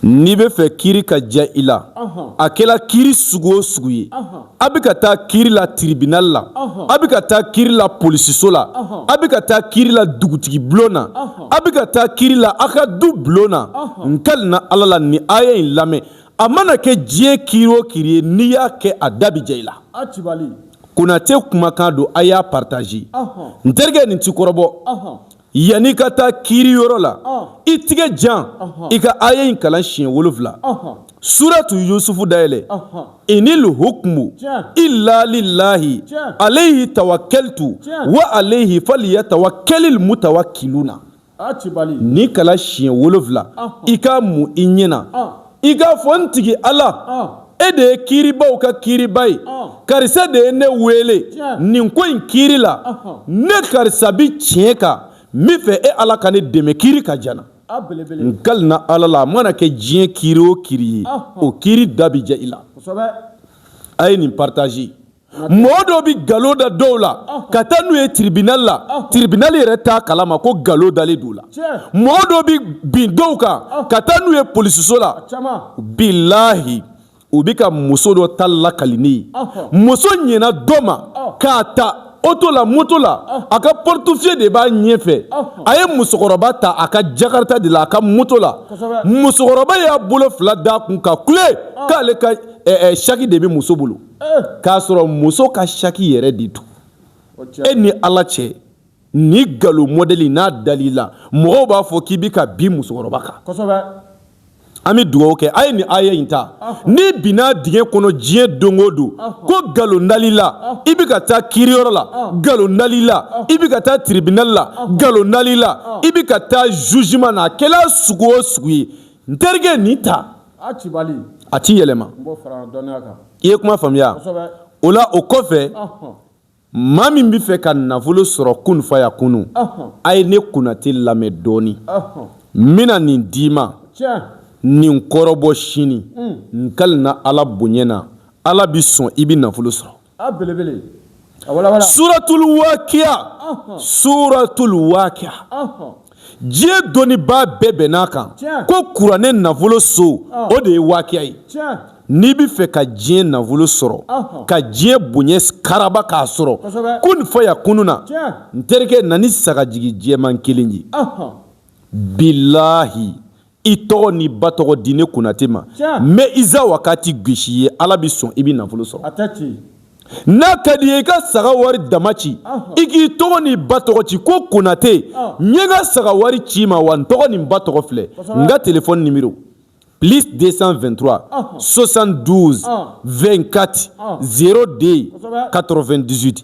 N'i bɛ fɛ kiri ka ja i la a kɛla kiri sugu o sugu ye a bɛ ka taa kiri la tiribinali la a bɛ ka taa kiri la polisiso la a bɛ ka taa kiri la dugutigi bulon na a bɛ ka taa kiri la a ka du bulon na n kalina ala la ni aya in lamɛn a mana kɛ diɲɛ kiri o kiri ye n'i y'a kɛ a da bi ja i la konatɛ kumakan don a y'a partager n terikɛ nin ti kɔrɔbɔ yanni ka taa kiiri yɔrɔ la i tigɛ jan i ka aya in kalan siɲɛ wolonwula suratu yusufu dayɛlɛ inil hukumu ila lilahi alayhi tawakaltu wa alayhi faliyatawakalil mutawakiluna nin kalan siɲɛ wolonwula i k'a mun i ɲɛ na i k'a fɔ n tigi ala e de ye kiiribaw ka kiiriba ye karisa de ye ne wele nin ko in kiiri la ne karisa bi tiɲɛ kan n bɛ fɛ e ala ka ne dɛmɛ kiiri ka ja n na n kalina ala la a mana kɛ diɲɛ kiiri o kiiri ye o kiiri da bi ja i la a ye nin partager mɔgɔ dɔ bɛ galo da dɔw la ka taa n'u ye tiribinali la tiribinali yɛrɛ t'a kalama ko galo dalen d'u la mɔgɔ dɔ bɛ bin dɔw kan ka taa n'u ye polisiso la bilahi u bɛ ka muso dɔ ta lakali ne ye muso ɲɛna dɔ ma k'a ta oto la moto la a ka portefeuille de b'a ɲɛfɛ a ye musokɔrɔba ta a ka jakarita de la a ka moto la musokɔrɔba y'a bolo fila d'a kun ka kule k'ale ka saki de bɛ muso bolo k'a sɔrɔ muso ka saki yɛrɛ de don e ni ala cɛ nin galo mɔdɛli n'a dal'i la mɔgɔw b'a fɔ k'i bɛ ka bin musokɔrɔba kan an bɛ dugawu kɛ a ye nin aya in ta n'i binna dingɛ kɔnɔ diɲɛ don o don ko galo nal'i la i bɛ ka taa kiriyɔrɔ la galo nal'i la i bɛ ka taa tiribinali la galo nal'i la i bɛ ka taa zuzuman na a kɛla sugu o sugu ye n terikɛ nin ta a cibali a ti yɛlɛma n b'o fara dɔnniya kan i ye kuma faamuya kosɛbɛ o la o kɔfɛ ɔhɔn maa min bɛ fɛ ka nafolo sɔrɔ kun fayakunu ɔhɔn a ye ne konatɛ lamɛn dɔɔni ɔhɔn n bɛna nin d'i ma tiɲɛ nin kɔrɔbɔ sini n kalina ala bonya na ala bɛ sɔn i bɛ nafolo sɔrɔ a belebele a wala wala suratul waqiya suratul waqiya diɲɛ dɔnnibaa bɛɛ bɛnn'a kan ko kuranɛ nafolo so o de ye waqiya ye n'i bɛ fɛ ka diɲɛ nafolo sɔrɔ ka diɲɛ bonya karaba k'a sɔrɔ kun fayakunu na n terikɛ na ni sagajigi jɛman kelen ye bilahi i tɔgɔ n'i ba tɔgɔ di ne konate ma n bɛ izawakati gosi i ye ala bɛ sɔn i bɛ nafolo sɔrɔ n'a ka di i ye i ka saga wari dama ci i k'i tɔgɔ n'i ba tɔgɔ ci ko konate n ye n ka saga wari ci i ma wa n tɔgɔ ni n ba tɔgɔ filɛ n ka téléphone numéro plus deux cent vingt-trois soixante-douze vingt-quatre zéro deux quatre-vingt-dix-huit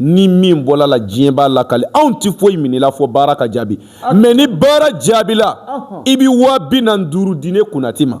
ni min bɔl'a la diɲɛ b'a lakali anw tɛ foyi minɛ i la fɔ baara ka jaabi mais ni baara jaabila i bɛ waa bi naani ni duuru di ne konate ma